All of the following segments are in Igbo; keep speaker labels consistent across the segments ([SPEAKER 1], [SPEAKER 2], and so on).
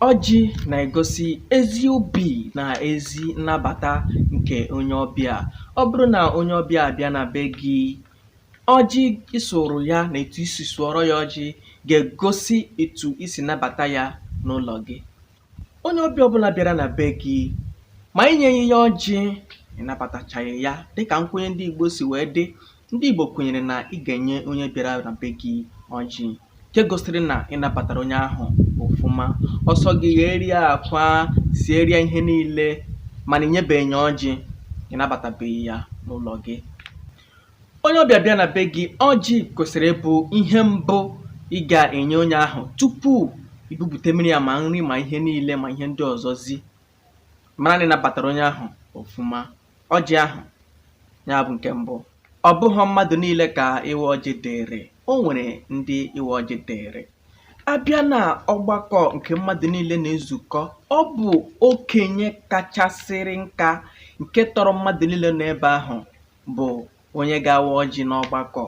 [SPEAKER 1] Ọjị na-egosi ezi obi na ezi nnabata nke onye ọbịa. Ọ bụrụ na onye ọbịa abịa na be gị, ọjị ị sụụrụ ya na etu i si sụọrọ ya ọjị ga-egosi etu i si nabata ya n'ụlọ gị. Onye ọbịa ọbụla bịara na be gị, ma i nyeghị ya ọjị, ị nabatachaghị ya dịka nkwenye ndị Igbo si wee dị Ndị Igbo kwenyere na ị ga-enye onye bịara na be gị ọjị nke gosiri na ị nabatara onye ahụ ọfụma. Ọ sọ gị gheere ya akwa, siere ya ihe niile mana ị nyebeghị ya ọjị, ị nabatabeghị ya n'ụlọ gị. Onye ọbịa bịa na be gị, ọjị kwesịrị ịbụ ihe mbụ ị ga-enye onye ahụ tupu i bupute mmiri ya ma nri ma ihe niile ma ihe ndị ọzọ zi. Mara na ị nabatara onye ahụ ọfụma. ọjị ahụ ya bụ nke mbụ ọ bụghị mmadụ niile ka ịwa ọjị dịịrị o nwere ndị ịwa ọjị dịịrị a bịa na ọgbakọ nke mmadụ niile na-ezukọ ọ bụ okenye kachasịrị nka nke tọrọ mmadụ niile n'ebe ahụ bụ onye ga-awa ọjị n'ọgbakọ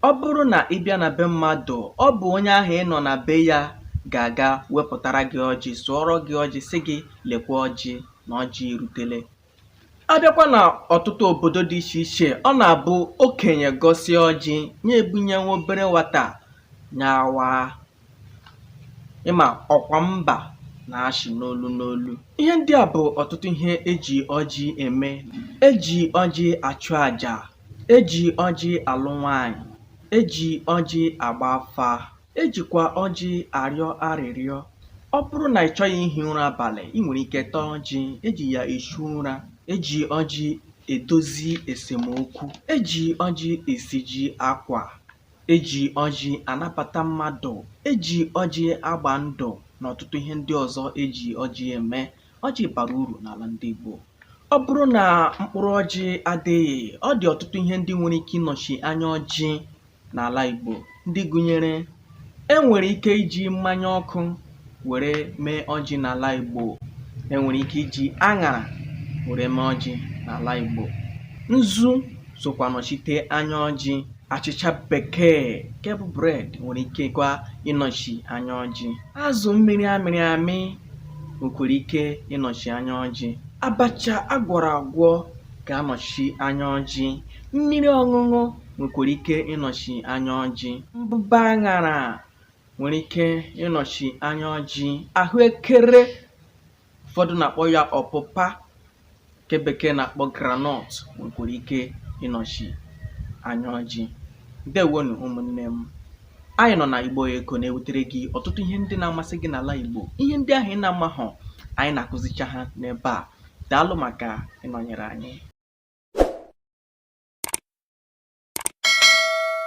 [SPEAKER 1] ọ bụrụ na ị bịa na be mmadụ ọ bụ onye ahụ ị nọ na be ya ga-aga wepụtara gị ọjị sụọrọ gị ọjị sị gị lekwa ọjị na ọjị erutele a bịakwa na ọtụtụ obodo dị iche iche ọ na-abụ okenye gọsịa ọjị nye e bunye nwa obere nwata nya awaa ị ma ọkwa mba na-achị n'olu n'olu ihe ndị a bụ ọtụtụ ihe e ji ọjị eme e ji ọjị achụ aja e ji ọjị alụ nwanyị e ji ọjị agba afa e jikwa ọjị arịọ arịrịọ ọ bụrụ na ị chọghị ihi ụra abalị ị nwere ike taa ọjị e ji ya achụ ụra e ji ọjị edozi esemokwu e ji ọjị esiji akwa E ji ọjị anabata mmadụ, e ji ọjị agba ndụ na ọtụtụ ihe ndị ọzọ e ji ọjị eme. Ọjị bara uru n'ala ndị Igbo. Ọ bụrụ na mkpụrụ ọjị adịghị, ọ dị ọtụtụ ihe ndị nwere ike ịnọchi anya ọjị n'ala Igbo ndị gụnyere e nwere ike iji mmanya ọkụ were mee ọjị n'ala Igbo e nwere ike iji aṅara were mee ọjị n'ala Igbo nzu sokwa nọchite anya ọjị achịcha bekee nke bụ bread nwere ike kwa ịnọchi anya ọjị azụ mmiri a mịrị amị nwekwara ike ịnọchi anya ọjị abacha a gwọrọ agwọ ga-anọchi anya ọjị mmiri ọṅụṅụ nwekwara ike ịnọchi anya ọjị mbụba aṅara nwere ike ịnọchi anya ọjị ahụekere ụfọdụ na-akpọ ya ọpụpa nke bekee na-akpọ groundnut nwekwara ike ịnọchi anya ọjị ndewonụ ụmụnne m anyị nọ na igbo eko na-ewetere gị ọtụtụ ihe ndị na-amasị gị n'ala igbo ihe ndị ahụ ị na-amahọ anyị na-akụzicha ha n'ebe a daalụ maka ịnọnyere anyị